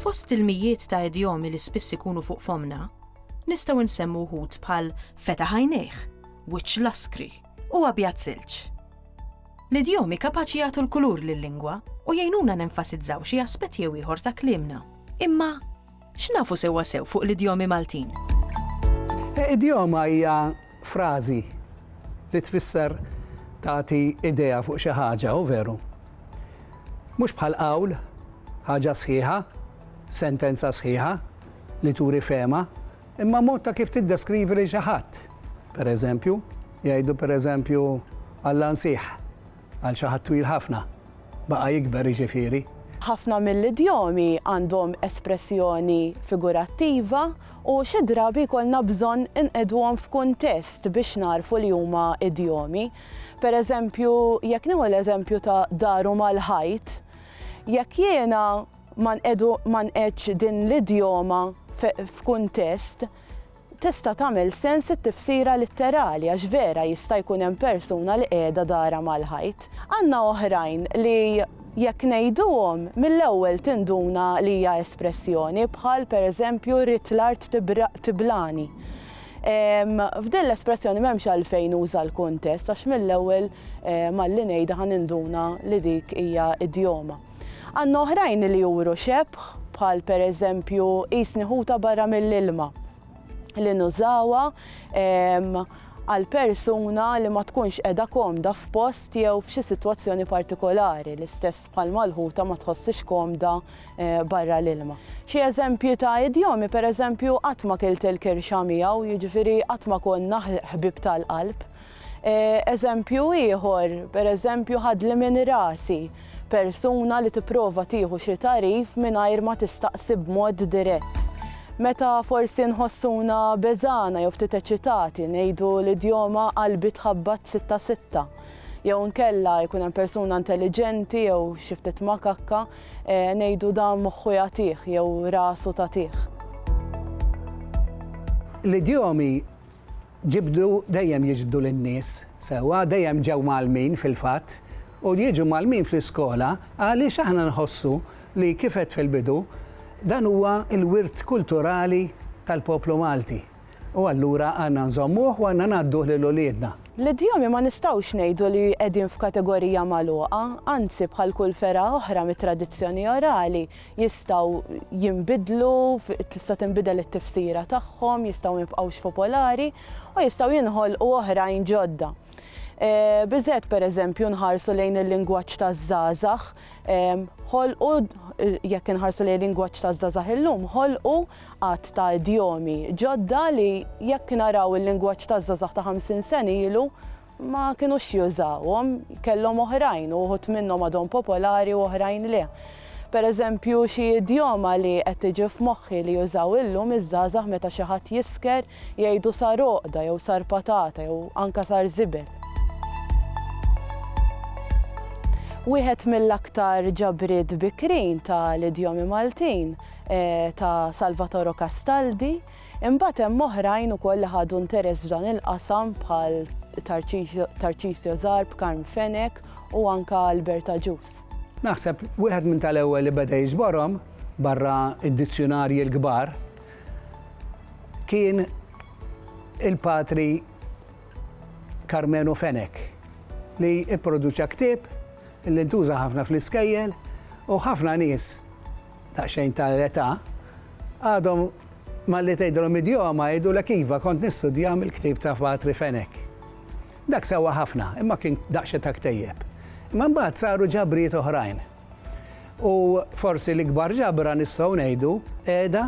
Fost il-mijiet ta' idjomi li spiss ikunu fuq fomna, nistgħu nsemmu wħud bħal feta ħajnejh, wiċċ laskri u abjad silġ. L-idjomi kapaċi jagħtu l-kulur lil-lingwa u jgħinuna nenfasizzaw xi aspett jew ieħor ta' kliemna. Imma x'nafu sewwasew fuq l-idjomi Maltin? Idjoma hija frażi li tfisser tagħti idea fuq xi ħaġa, hu veru? Mhux bħal qawl, ħaġa sħiħa, sentenza sħiħa li turi fehma, imma mod ta' kif tiddeskrivi lil xi ħadd. Pereżempju, jgħidu pereżempju Alla nsieħ. Għal xi ħadd twil ħafna. Baqa' jikber, jiġifieri. Ħafna mill-idjomi għandhom espressjoni figurattiva u xi drabi jkollna bżonn inqiegħduhom f'kuntest biex nagħrfu li huma idjomi. Per eżempju, jekk nieħu l-eżempju ta' daru mal-ħajt, jekk jiena ma nqiegħdu ma nqiegħdx din l-idjoma f'kuntest, Tista' tagħmel sens it-tifsira litterali għax vera jista' jkun hemm persuna li qiegħda darha mal-ħajt. Għandna oħrajn li jekk ngħiduhom, mill-ewwel tinduna li hija espressjoni bħal pereżempju rrid l-art tibraq tiblani. F'din l-espressjoni m'hemmx għalfejn nuża l-kuntest għax mill-ewwel malli ngħidha ħa ninduna li dik hija idjoma. Għandna oħrajn li juru xebħ, bħal pereżempju qisni ħuta barra mill-ilma, li nużawha għal persuna li ma tkunx qiegħda komda f'post jew f'xi sitwazzjoni partikolari, l-istess bħalma l-ħuta ma tħossiex komda barra l-ilma. Xi eżempji ta' idjomi, pereżempju qatt ma kilt il-kirxa miegħu, jiġifieri qatt ma konna ħbieb tal-qalb. Eżempju ieħor, pereżempju ħadli minn rasi, persuna li tipprova tieħu xi tagħrif mingħajr ma tistaqsi b'mod dirett. Meta forsi nħossuna beżgħana jew ftit eċitati ngħidu l-idjoma qalbi tħabbat sitta sitta. Jew inkella jkun hemm persuna intelliġenti jew xi ftit makakka ngħidu dan moħħu jagħtih jew rasu tagħtih. L-idjomi Ġibdu dejjem jiġbdu lin-nies sewwa, dejjem ġew mgħallmin fil-fatt, u jiġu mgħallmin fl-iskola għaliex aħna nħossu li kif għedt fil-bidu, dan huwa l-wirt kulturali tal-poplu Malti u allura għandna nżommuh u għandna ngħadduh lil uliedna. L-idjomi ma nistgħux ngħidu li qegħdin f'kategorija magħluqa, anzi bħal kull fergħa oħra mit-tradizzjoni orali, jistgħu jinbidlu, tista' tinbidel it-tifsira tagħhom, jistgħu ma jibqgħux popolari, u jistgħu jinħolqu oħrajn ġodda. Biżżejjed pereżempju nħarsu lejn il-lingwaġġ taż-żgħażagħ, ħolqu, jekk inħarsu lejn il-lingwaġġ taż-żgħażagħ illum, ħolqu għadd ta' idjomi ġodda li jekk naraw il-lingwaġġ taż-żgħażagħ ta' ħamsin sena ilu, ma kinux jużawhom, kellhom oħrajn u wħud minnhom għadhom popolari u oħrajn le. Pereżempju, xi idjoma li qed tiġi f'moħħi li jużaw illum iż-żgħażagħ meta xi ħadd jisker jgħidu sar għoqda jew sar patata jew anke sar żibel. Wieħed mill-aktar ġabriet bikrin tal-idjomi Maltin ta' Salvatoro Castaldi. Imbagħad hemm oħrajn ukoll li ħadu interess f'dan il-qasam bħal Tarċisio Zarb, Carm Fenech u anke Albert Agius. Naħseb wieħed minn tal-ewwel li beda jiġborhom, barra d-dizzjunarji l-kbar, kien il-Patri Karmenu Fenech li pproduċa ktieb li ntuża ħafna fl-iskejjel u ħafna nies, daqsxejn ta' l-età, għadhom malli tgħidilhom idjoma jgħidulek iva kont nistudja mill-ktieb ta' Patri Fenech. Dak sewwa ħafna, imma kien daqsxejn ta' ktejjeb. Imma mbagħad saru ġabrijiet oħrajn. U forsi l-ikbar ġabra nistgħu ngħidu qiegħda